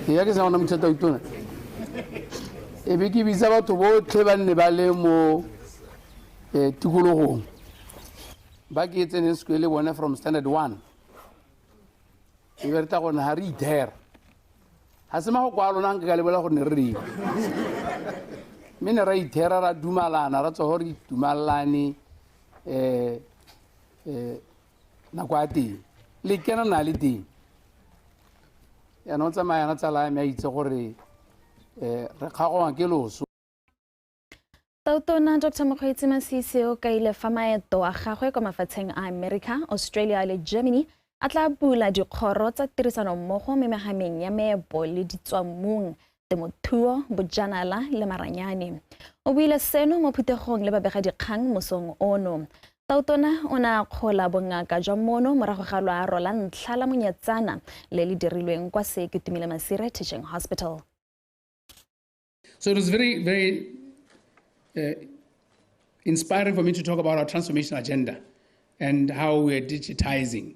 e ya ke sa gona mothata itona e be ke bitsa batho botlhe ba nne ba le mo eh, tikologong ba ke e tseneng sekole le bone from standard one e be re tla gone ga re ithera ga se mago kwa lona nke ka lebola gore ne re reng mme ne ra ithera ra dumalana ra tswa gore re dumalane um um nako ya teng le kena na le teng yaanong tsamaya yana tsala ya me a itse gore um re kgagoa ke loso Tautona Dr. Mokgweetsi Masisi o kaile fa maeto a gagwe kwa mafatsheng a America, Australia le Germany a tla bula dikgoro tsa tirisanommogo me megameng ya meepo le ditswamong temothuo bojanala le maranyane o buile seno mo phuthegong le babegadikgang mosong ono tautona o ne a kgola bongaka jwa mono morago ga loaro la ntlha la monyatsana le le dirilweng kwa seketumile masire teaching hospital so it was very very uh, inspiring for me to talk about our transformation agenda and how we are digitizing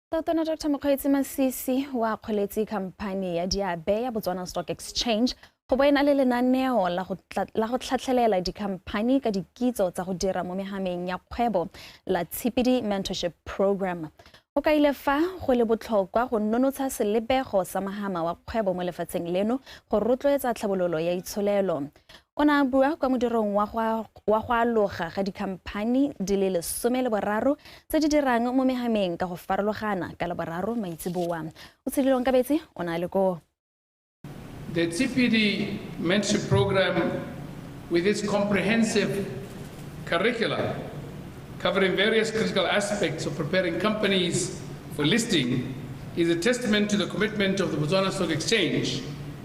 Tona Dr Mokgweetsi Masisi o akgoletse khamphani ya diabe ya Botswana Stock Exchange go bo e na le lenaneo la go tlhatlhelela dikhamphani ka dikitso tsa go dira mo megameng ya kgwebo la Tshipidi Mentorship Program. O kaile fa go le botlhokwa go nonotsha selebego sa magama wa kgwebo mo lefatsheng leno go rotloetsa tlhabololo ya itsholelo. o ne a bua kwa modirong wa go aloga ga dikhamphani di le lesome le boraro tse di dirang mo megameng ka go farologana ka laboraro maitseboa o tshedilong ka betse o ne a le koo The TPD mentorship program with its comprehensive curricula covering various critical aspects of preparing companies for listing is a testament to the commitment of the Botswana Stock Exchange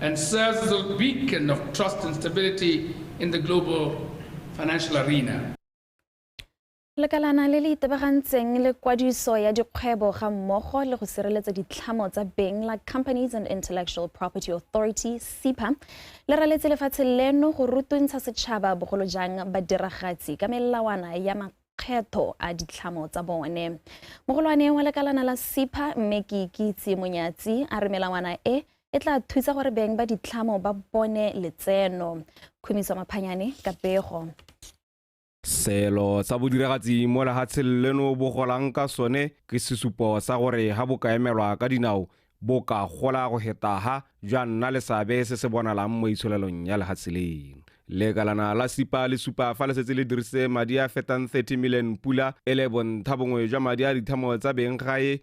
and serves as a beacon of trust and stability in the global financial arena. lekalana le le itebagantseng le kwadiso ya dikgwebo ga mmogo le go sireletsa ditlhamo tsa beng la companies and intellectual property authority cpa le raletse lefatshe leno go rutuntsha setšhaba bogolo jang badiragatsi ka melawana ya makgetho a ditlhamo tsa bone mogolwane wa lekalana la cpa mme ke ikitse monyatsi a re melawana e e tla thusa gore beng ba ditlhamo ba bone letseno khumiso maphanyane ka pego Selo sa bodiragatsi mo lehatsheng leno bo golang ka sone ke sesupo sa gore ha bo ka emelwa ka dinao bo ka gola go hetaha jwa nna le seabe se se bonalang mo itsholelong ya lehatshe leno lekalana la sipa le supa fa le setse le dirise madi a fetang 30 million pula e le bonthha bongwe jwa madi a dithamo tsa beng gae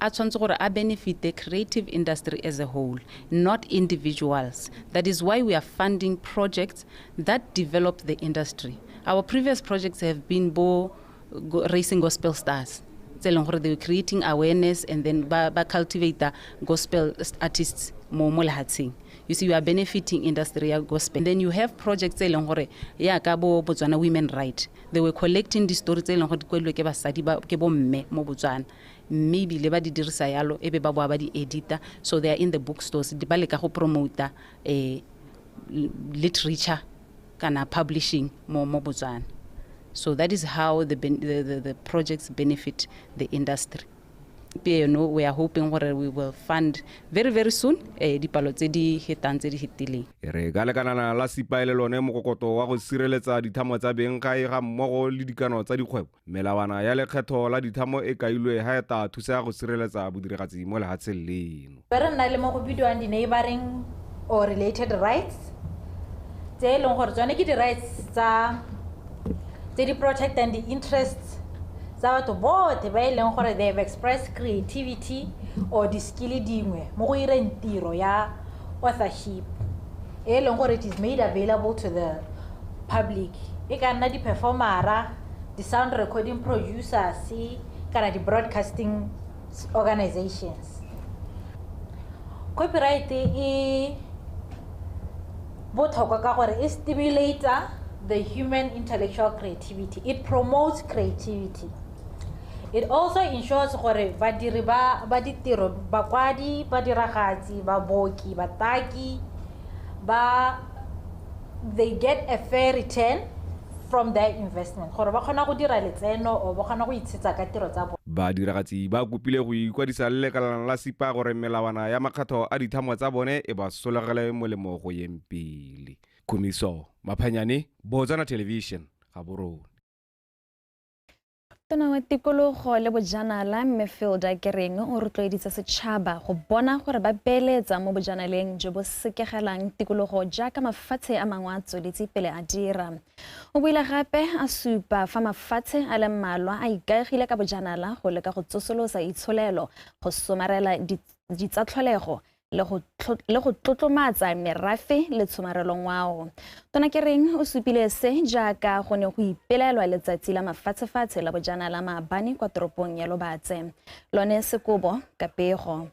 a tshwanetse gore a benefite creative industry as a whole not individuals that is why we are funding projects that develop the industry our previous projects have been bo go- racing gospel stars tse e leng gore they were creating awareness and then ba, ba cultivator gospel s- artists mo mo lehatsheng you see you are benefiting industry ya gospel and then you have projects tse e leng gore ya ka bo botswana women right they were collecting di-story tse e leng gore di kwelilwe ke basadi ba- ke bomme mo botswana mme ebile ba di dirisa yalo e be ba boa ba di edita so they are in the bookstores ba leka go promota um literature kana publishing mo mo botswana so that is how the, ben, the, the, the projects benefit the industry pieno we are hoping gore we will fund very very soon eh, dipalo tse di hetang tse di hetileng e re ka lekanana la sipaele lone mokokoto wa go sireletsa dithamo tsa bengkae ga mmogo le dikano tsa dikgwebo Melawana ya lekgetho la dithamo e kailwe ha eta thusa go sireletsa bodiragatsi mo lehatsheng leno. Be re nna le mo go bidiwang di-neighbouring or related rights tse e leng gore tsone ke di-rights tsa tse di protectang di-interests tsa batho bothe ba e leng gore they have expressed creativity or di-skill dingwe mo go ireng tiro ya authorship e leng gore it is made available to the public e ka nna di-performera di-sound recording producers kana di-broadcasting organizations. Copyright e botlhokwa ka gore e stimulator the human intellectual creativity it promotes creativity it also ensures gore badiri ba ba ditiro bakwadi badiragatsi baboki bataki ba they get a fair return from their investment gore ba kgona go dira letseno or ba kgona go itshetsa ka tiro tsa Badiragatsi ba kopile go ikwadisa le lekalana la SIPA gore melawana ya makgetho a dithamo tsa bone e ba solegele molemo go yeng pele. Khumiso Maphanyane, Botswana Television, Gaborone. tona wa tikologo le bojanala mme filda kereng o rotloeditse setšhaba go bona gore ba beeletsa mo bojanaleng jo bo sekegelang tikologo jaaka mafatshe a mangwe a tsweletse pele a dira o buile gape a supa fa mafatshe a le mmalwa a ikaegile ka bojanala go leka go tsosolosa itsholelo go somarela ditsatlholego le go le go tlotlomatsa merafe le tshomarelo ngwao tona ke reng o supile se jaaka go ne go ipelaelwa letsatsi la mafatshefatshe la bojana la maabane kwa toropong ya lobatse lone sekobo ka pego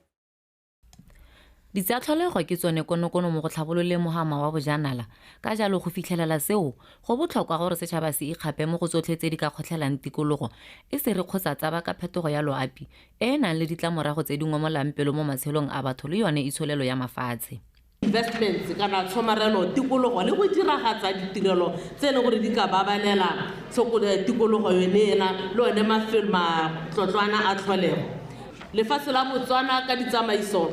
Ditsatlholego ke tsone konokono mo go tlhabololeng mohama wa bojanala, ka jalo go fitlhelela seo go botlhokwa gore setšhaba se ikgape mo go tsotlhe tse di ka kgotlhelang tikologo e se re kgotsa tsaba ka phetogo ya loapi e e nang le ditlamorago tse di ngomolang pelo mo matshelong a batho le yone itsholelo ya mafatshe. Investments kana tshomarelo tikologo le go diragatsa ditirelo tse e leng gore di ka babalela tikologo yone ena le one mafelo matlotlwana a tlholego. Lefatshe la Botswana ka ditsamaiso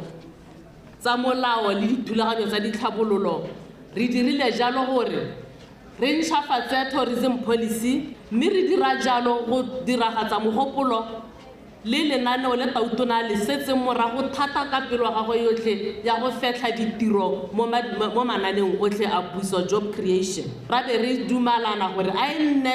tsa molao le dithulaganyo tsa ditlhabololo re dirile jalo gore Re ntšhafatse tourism policy mme re dira jalo go diragatsa mogopolo le lenaneo le Tautona a le setseng morago thata ka pelo ya gagwe yotlhe ya go fetlha ditiro mo mo mananeong otlhe a puso, job creation. Ra be re dumalana gore a e nne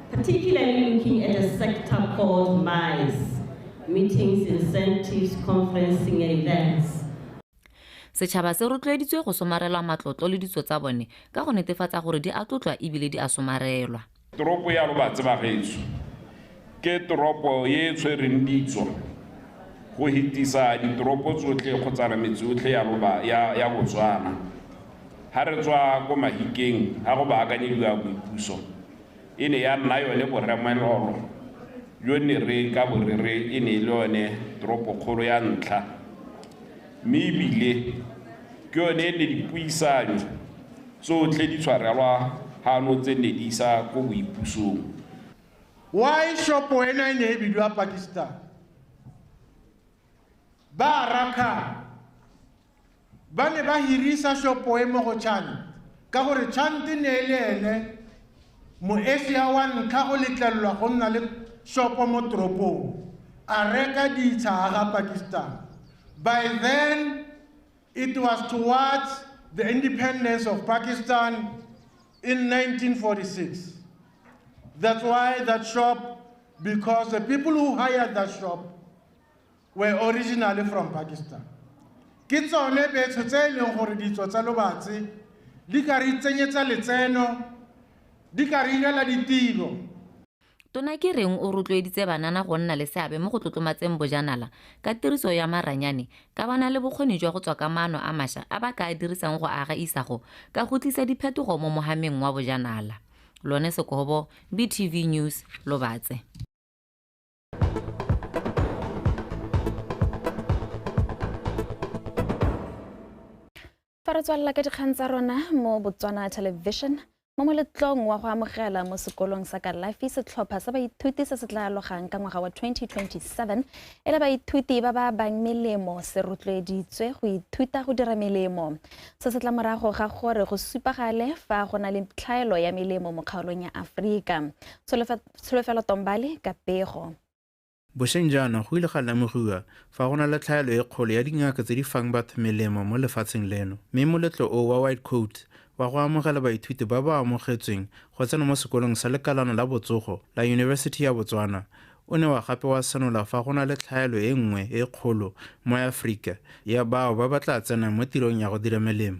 particularly looking at a sector called MICE, Meetings, Incentives, Conferencing and Events. Setšhaba se rotloeditswe go somarelwa matlotlo le ditso tsa bone ka go netefatsa gore di a tlotlwa ebile di a somarelwa. Toropo ya Lobatse Bagetso ke toropo e e tshwereng ditso go hitisa ditoropo tsotlhe kgotsana metse yotlhe ya loba ya ya Botswana ha re tswa ko Mahikeng ha go baakanyediwa boipuso. e ne ya nna yone boremelolo jo ne re ka bo re re e ne e le yone toropokgolo ya ntlha mme ebile ke yone e ne dipuisanyo tsotlhe di tshwarelwa gano tse ne di isa ko boipusong Why shopo ena e ne e bidiwa Pakistan? Ba Arakan Ba ne ba hirisa shopo e mo go Chant ka gore Chant e ne e le ene Moasia wa ntlha go letlelelwa go nna le shopo mo toropong, a reka ditsha a ga Pakistan. By then, it was towards the independence of Pakistan in 1946. That's why that shop, because the people who hired that shop, were originally from Pakistan. Ke tsone betsho tse e leng gore ditso tsa lobatse di ka re itsenyetsa letseno, di ka re irela ditiro. Tona ke reng o rotloeditse banana go nna le seabe mo go tlotlomatseng bojanala ka tiriso ya maranyane ka ba na le bokgoni jwa go tswa ka maano a masha a ba ka a dirisang go aga isago ka go tlisa diphetogo mo mohameng wa bojanala. Lone Sekobo, BTV News, Lobatse. fa re tswalela ka dikgang tsa rona mo botswana television mo moletlong wa go amogela mo sekolong sa kalafi setlhopha sa baithuti se se tla alogang ka ngwaga wa 2027 e le baithuti ba ba bang melemo se rotloeditswe go ithuta go dira melemo se se tla morago ga gore go supagale fa go na le tlhaelo ya melemo mo kgaolong ya aforika Tsholofelo Tombali ka pego. Bosheng jaana go ile ga lemogiwa fa go na le tlhaelo e kgolo ya dingaka tse di fang batho melemo mo lefatsheng leno, mme moletlo o wa White Coats wa go amogela baithuti ba ba amogetsweng go tsena mo sekolong sa lekalana la botsogo la Yunibesithi ya Botswana o ne wa gape wa senola fa go na le tlhaelo e nngwe e kgolo mo Afrika ya bao ba ba tla tsenang mo tirong ya go dira melemo.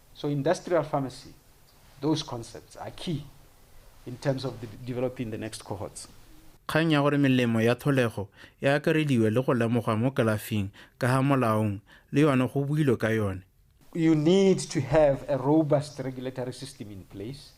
So industrial pharmacy, those concepts are key in terms of developing the next cohorts. kgang ya gore melemo ya tlholego e akarediwe le go lemogwa mo kalafing ka ga molaong le yone go builwe ka yone you need to have a robust regulatory system in place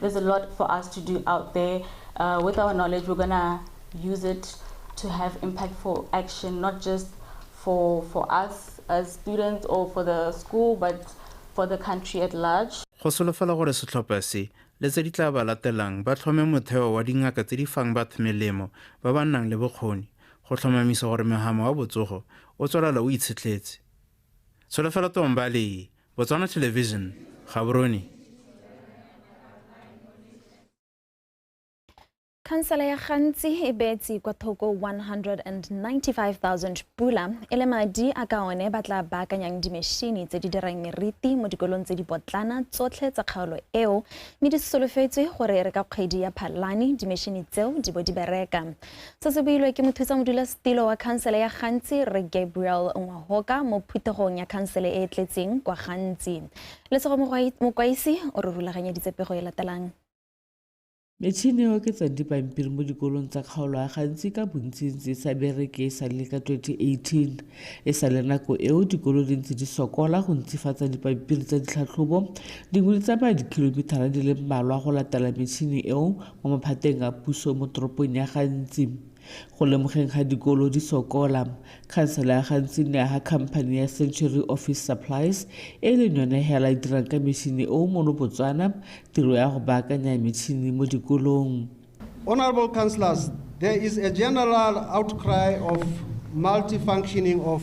There's a lot for us to do out there. Uh, with our knowledge, we're going to use it to have impactful action, not just for, for us as students or for the school, but for the country at large. go solofela gore setlhopha se le tse di tla ba latelang ba tlhome motheo wa dingaka tse di fang batho melemo ba ba nnang le bokgoni go tlhomamisa gore megamo wa botsogo o tswelela o itshetlhetse tsholofelo tombale Botswana Television, Gaborone. Khansela ya gantsi e beetse kwa thoko 195,000 pula e le madi a ka one ba tla baakanyang dimešini tse di dirang meriti mo dikolong tse di potlana tsotlhe tsa kgaolo eo mme di solofetswe gore re ka kgwedi ya phalane dimešini tseo di bo di bereka Se se builwe ke mothusamodulasetilo wa khansele ya Gantsi, Rre Gabriel Ngwahoka mo phuthegong ya khansele e e tletseng kwa Gantsi. Lesego Mokwaisi o re rulaganyeditse pego e latelang. Metšhini e oketsa dipampiri mo dikolong tsa kgaolo a gantsi ka bontsintsi sa bereke e sa le ka 2018. E sa le nako eo dikolo di ntse di sokola go ntsifatsa dipampiri tsa ditlhatlhobo, dingwe di tsamaya dikilomithara di le mmalwa go latela metšhini eo Mo maphateng a puso mo toropong ya Gantsi, go lemogeng ga dikolo di sokola, khansele ya Gantsi ne aga khamphani ya Century Office Supplies e leng yone hela e dirang ka metšhini e o mono Botswana tiro ya go baakanya metšhini mo dikolong. Honourable Councillors, there is a general outcry of multi-functioning of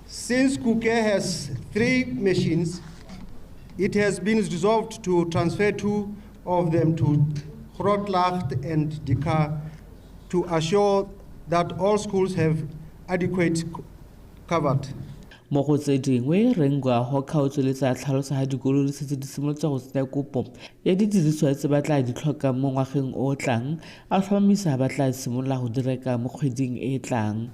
Since Kuke has three machines, it has been resolved to transfer two of them to Grootlach and Dikar to assure that all schools have adequate covered. mo go tse dingwe rengwago kgaotso le tsa tlhalosa ga dikolo di setse di simolotse go tsenya kopo ya didiriswa tse ba tla di tlhokang mo ngwageng o o tlang a tlhomamisa ba tla simolola go direka mo kgweding e e tlang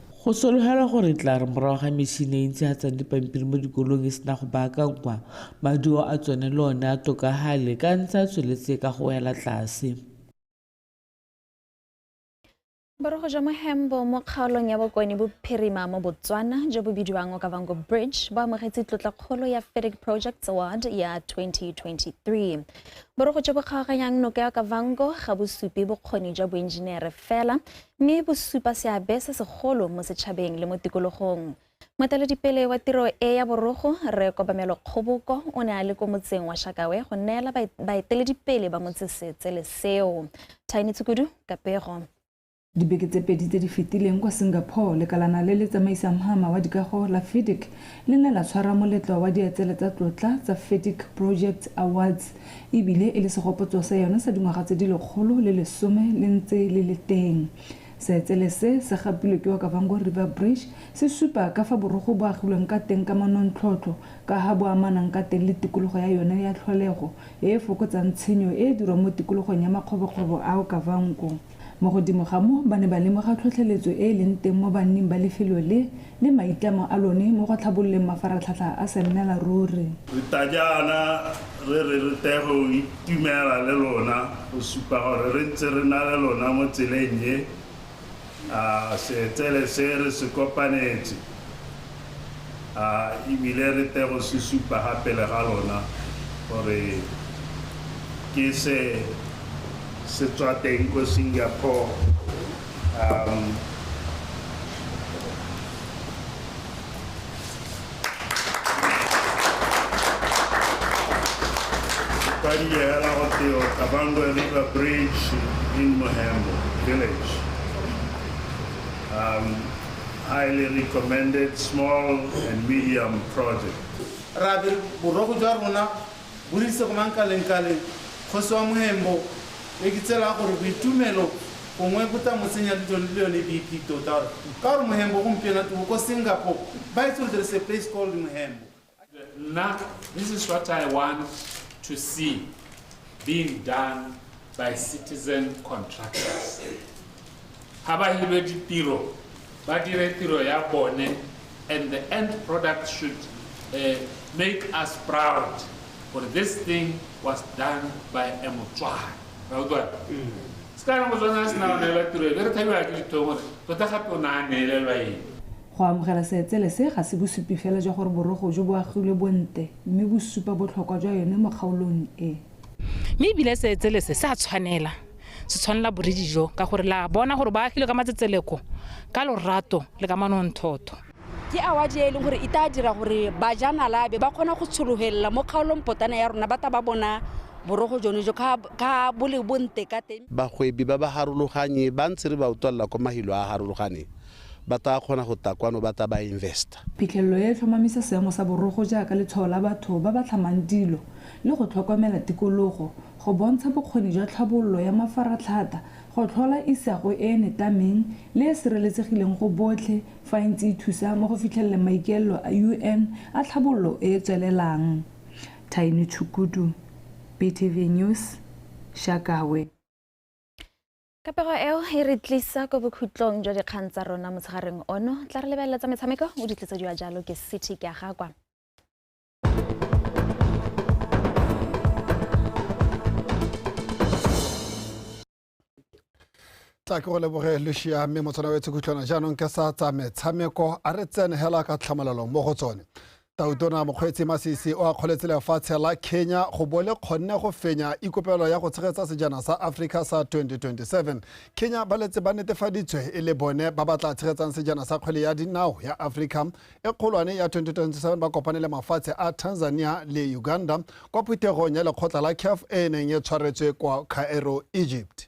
Go sologelwa gore e tla re morago ga metšhine e e ntshegatsang dipampiri mo dikolong e sena go baakangwa, maduo a tsone le one a tokagale ka ntse a tsweletse ka go wela tlase. Borogo jwa Mohembo mo kgaolong ya Bokone Bophirima mo Botswana jo bo bidiwang Okavango Bridge bo amogetse tlotlakgolo ya FEDIC Projects Award ya 2023. Borogo jo bo kgaoganyang noka ya Okavango ga bo supe bokgoni jwa boenjinere fela, mme bo supa seabe se segolo mo setšhabeng le mo tikologong. Moeteledipele wa tiro e ya borogo, Rre Kobamelo Kgoboko, o ne a le ko motseng wa Shakawe go neela baeteledipele ba motse seetsele seo. Tiny Tshukudu ka pego. Dibeke tse pedi tse di fetileng kwa Singapore, lekalana le le tsamaisang mhama wa dikago la FIDIC le ne la tshwara moletlo wa dietsele tsa tlotla tsa FIDIC Projects Awards e bile e le segopotso sa yone sa dingwaga tse di lekgolo le lesome le ntse le le teng. Seetsele se se gapilwe ke Okavango River Bridge se supa ka fa borogo bo agilweng ka teng ka manontlhotlho ka ha bo amanang ka teng le tikologo ya yone ya tlholego e e fokotsang tshenyo e e dirwang mo tikologong ya makgobokgobo a Okavango. Mo godimo ga moo, ba ne ba lemoga tlhotlheletso e e leng teng mo banning ba lefelo le le maitlamo a lone mo go tlhabololeng mafaratlhatlha a sennelaruri. Re tla jaana re re re tle go itumela le lona go supa gore re ntse re na le lona mo tseleng e a seetsele se re se kopanetse. A e bile re tego se supa ga pele ga lona gore ke se se tswa teng ko Singapore. Um, Padiyela Hoteo, Kabangwe River Bridge in Mohembo Village. Um, Highly recommended small and medium project. Rabe, Boroko jwa rona bo re ise go Mankalengkaleng, kgosi wa Mohembo, e ke tsela gore boitumelo gongwe bo tla mo tsenya le jone le yone BP tota gore ka gore Mohembo gompieno a twe o ko Singapore, ba itse gore there is a place called Mohembo. Now, this is what I want to see being done by citizen contractors. Ha ba hire ditiro, ba dire tiro ya bone and the end product should uh, make us proud for this thing was done by a Motswana. Now, do it. Ska re Motswana a sena go neela tiro e, be re thabiwa ke dithomo gore tota gape o ne a neelelwa eng. Go amogela Seetsele se ga se bosupi fela jwa gore borogo jo bo agilwe bo nte, mme bo supa botlhokwa jwa yone mo kgaolong e. Mme e bile Seetsele se se a tshwanela, se tshwanela boridi jo, ka gore le a bona gore bo agilwe ka matsetseleko, ka lorato le ka manonthotho. Ke awadi e e leng gore e taa dira gore bajanala ba be ba kgona go tshologelela mo kgaolong potana ya rona ba ta ba bona borogo jone jo ka ka bo le bo nte ka teng. Bagwebi ba ba harologanye ba ntse re ba utlwalela kwa mahilo a a harologaneng Ba taa kgona go ta kwano ba ta ba investa. Phitlhelelo e e tlhomamisa seemo sa borogo jaaka letshwao la batho ba ba tlhamang dilo le go tlhokomela tikologo, go bontsha bokgoni jwa tlhabololo ya mafaratlhata, go tlhola isago e e netameng le e sireletsegileng go botlhe fa e ntse e thusa mo go fitlheleleng maikaelelo a UN a tlhabololo e e tswelelang. Thaini Tshukudu, BTV News, Shakawe. Kapego eo e re tlisa ko bokhutlong jwa dikgang tsa rona motshegareng ono. Tla re lebelela tsa metshameko o di tlisediwa jalo ke city ke a gakwa. tla ke go leboge lucia mme motshwana wetse khutlhwana jaanong ke sa tsa metshameko a re tsene hela ka tlhamalelo mo go tsone Tautona Mokgweetsi Masisi o akgoletse lefatshe la Kenya go bo le kgonne go fenya ikopelo ya go tshegetsa sejana sa Africa sa 2027. Kenya ba letse ba netefaditswe e le bone ba ba tla tshegetsang sejana sa kgwele ya dinao ya Africa e kgolwane ya 2027 ba kopane le mafatshe a Tanzania le Uganda kwa phuthegong ya lekgotla la CAF e e neng e tshwaretswe kwa Cairo, Egypt.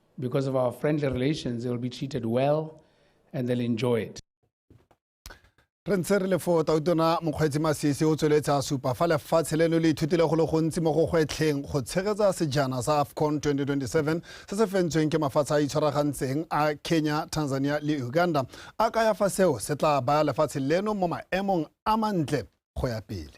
because of our friendly relations, they'll be treated well and they'll enjoy it. re ntse re le foo tautona mokgweetsi masisi o tsweletse a supa fa lefatshe leno le ithutile go le gontsi mo go gwetlheng go tshegetsa sejana sa afcon 2027 se se fentsweng ke mafatshe a itshwaragantseng a kenya tanzania le uganda a kaya fa seo se tla baya lefatshe leno mo maemong a mantle go ya pele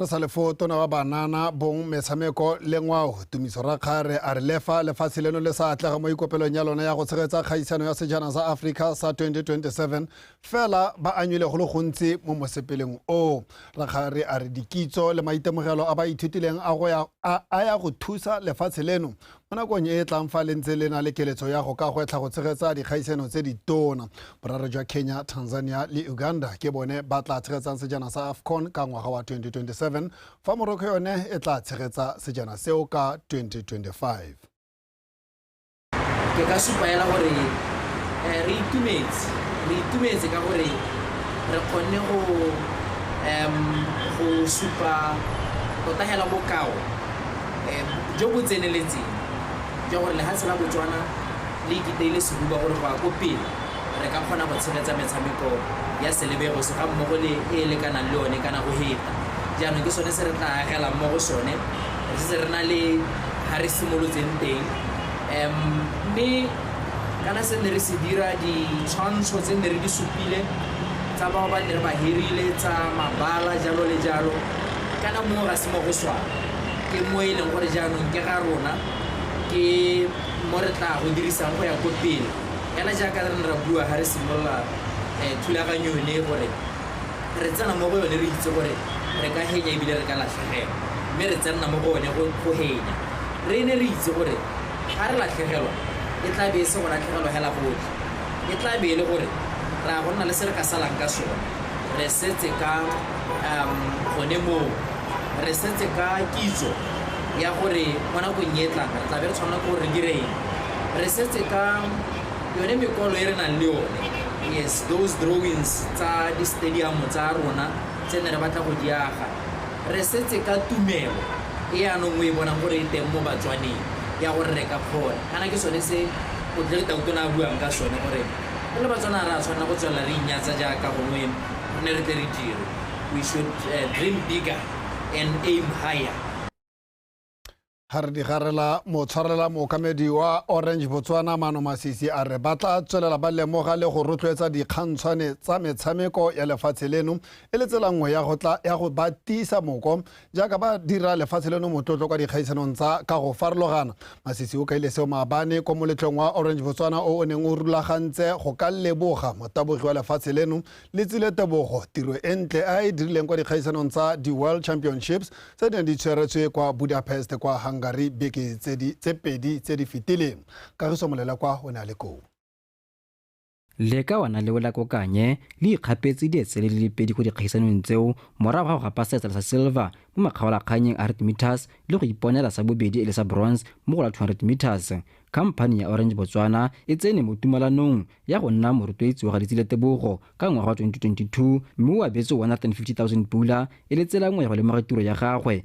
re sa lefo tona wa banana bong metshameko le ngwao tumiso rakgare a re lefa lefatshe leno le sa atlega mo ikopelong ya lone ya go tshegetsa kgaisano ya sejana sa africa sa 2027 fela ba anywile go le gontsi mo mosepeleng o rakgare a re dikitso le maitemogelo a ba ithutileng a ya go thusa lefatshe leno Mo nakong e e tlang fa le ntse le na le keletso ya go ka gwetlha go tshegetsa dikgaisano tse ditona, boraro jwa Kenya, Tanzania le Uganda ke bone ba tla tshegetsang sejana sa AFCON ka ngwaga wa 2027 fa Morocco yone e tla tshegetsa sejana seo ka 2025. Ke ka supa hela gore eh, re itumetse re itumetse ka gore re kgonne go um, go supa tota hela bokao jo bo tseneletseng jwa gore lehatshe la Botswana le ikiteile sehuba gore go ya ko pele re ka kgona go tshegetsa metshameko ya Celebegos ga mmogo le e e lekanang le one kana go heta. Jaanong ke sone se re tla agelang mo go sone re setse re na le ga re simolotseng teng um mme kana se ne re se dira ditshwantsho tse ne re di supile tsa bao ba ne re ba hirile tsa mabala jalo le jalo kana mongwe ga se mo go swana ke mo e leng gore jaanong ke ga rona ke mo re tla go dirisang go ya ko pele kana jaaka re ne ra bua ga re simolola um thulaganyo yone gore re tsena mo go yone re itse gore re ka henya ebile re ka latlhegelwa mme re tsenna mo go one go henya re ne re itse gore ga re latlhegelwa e tla be e se go latlhegelwa hela gotlhe e tla be e le gore ra go nna le se re ka salang ka sone re setse ka um gone moo re setse ka kitso ya gore mo nakong e tlang re tlabe re tshwanela ke gore re direng re setse ka yone mekwalo e re nang le yone yes those drawings tsa di-stadium tsa rona tse ne re batla go diaga re setse ka tumelo e yanong o e bonang gore e teng mo batswaneng ya gore re ka kgona kana ke sone se o tle le tautona a buang ka sone gore Re le Batswana ga re a tshwanela go tswelela re inyatsa jaaka gongwe re ne re tle re dire. We should dream bigger and aim higher. Ga re di garela, motshwarela mookamedi wa Orange Botswana Mano Masisi a re ba tla tswelela ba lemoga le go rotloetsa dikgantshwane tsa metshameko ya lefatshe leno e le tsela nngwe ya go ba tiisa moko Jaaka ba dira lefatshe leno motlotlo kwa dikgaisanong tsa ka go farologana, Masisi o kaile seo maabane ko moletlong wa Orange Botswana o o neng o rulagantse go ka leboga motabogi wa lefatshe leno Letsile Tebogo tiro e ntle a e dirileng kwa dikgaisanong tsa di-World Championships tse di neng di tshweretswe kwa Budapest kwa Hungary beke tse pedi tse di fetileng. Kagiso Molelekwa o ne a le koo. Leka wa na le Wela Kokanye le ikgapetse dietsele le le pedi ko dikgaisanong tseo morago ga go gapa seetsela sa silver mo makgaolakganyeng a 100 meters le go iponela sa bobedi e le sa bronze mo go la 200 meters. Khamphani ya Orange Botswana e tsene mo tumalanong ya go nna morotloetsi wa ga Letsile Tebogo ka ngwaga wa 2022 mme o abetswe R150,000 e le tsela nngwe ya go lemoga tiro ya gagwe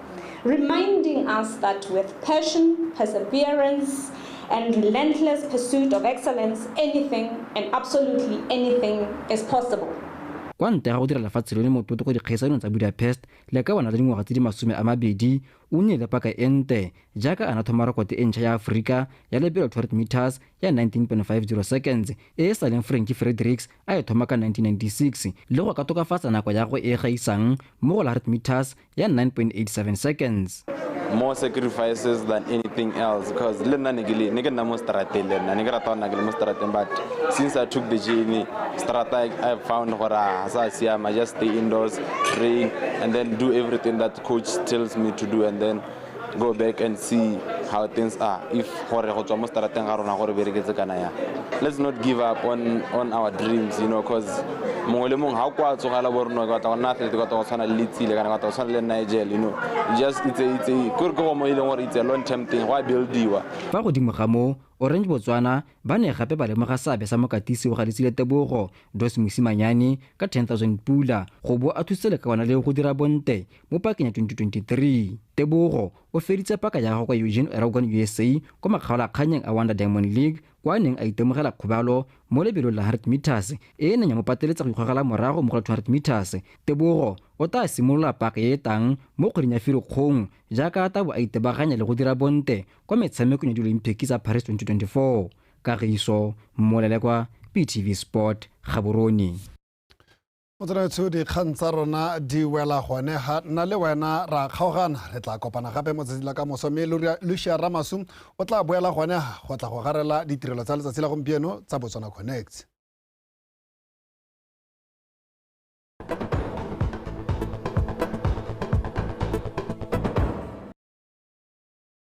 reminding us that with passion, perseverance, and relentless pursuit of excellence, anything and absolutely anything is possible. kwa ntle ga go dira lefatshe lone mototo ko dikgaisanong tsa budapest le ka bona le dingwaga tse di masome a mabedi o nnile paka e nte jaaka a na thoma rekote e ntšha ya aforika ya lebelo 12 meters ya 19.50 seconds e e sa leng franki fredericks a e thoma ka 1996 le go ka tokafatsa nako ya go e gaisang mo go la 100 meters ya 9.87 seconds more sacrifices than anything else because le nna ne ke le ne ke nna mo strateng le nna ne ke rata go nna ke le mo strateng but since i took the journey strata i found gore ga sa siama just stay indoors train and then do everything that coach tells me to do and then go back and see how things are if gore go tswa mo strateng ga rona gore bereketse kana yang let's not give up on, on our dreams you know because mongwe le mongwe ga o kwa tsogela bo rona ka tla go nna athlete ka tla go tshwana le letsile kana ka tla go tshwana le nigel you know just itse itse kore ke go mo e leng gore itse long term thing go a buildiwa fa godimo ga moo orange botswana ba ne gape ba lemoga seabe sa mokatisi o ga letsile tebogo dos mosimanyane ka 10000 pula go bo a thusitse le ka ona le go dira bonte Mo pakeng ya 2023, Tebogo o feditse paka ya gagwe kwa Eugene Eragon USA kwa makgaolakgannyeng a Wonder Diamond League kwa a neng a itemogela kgobalo mo lebelong la 100 metres e e neng ya mo pateletsa go ikgogela morago mo go la 200 metres. Tebogo o taa simolola paka e e tang mo kgweding ya Firikgong jaaka a tabo a itebaganya le go dira bonte kwa metshamekong ya Diolimpiki tsa Paris 2024. Kagiso Molelekwa, BTV Sport, Gaborone. o tsenetsho dikgang tsa rona di wela gone ga nna le wena ra kgaogana re tla kopana gape mo tsatsi la ka moso mme lucia ramasu o tla boela gone go tla go garela ditirelo tsa letsatsi la gompieno tsa botswana connect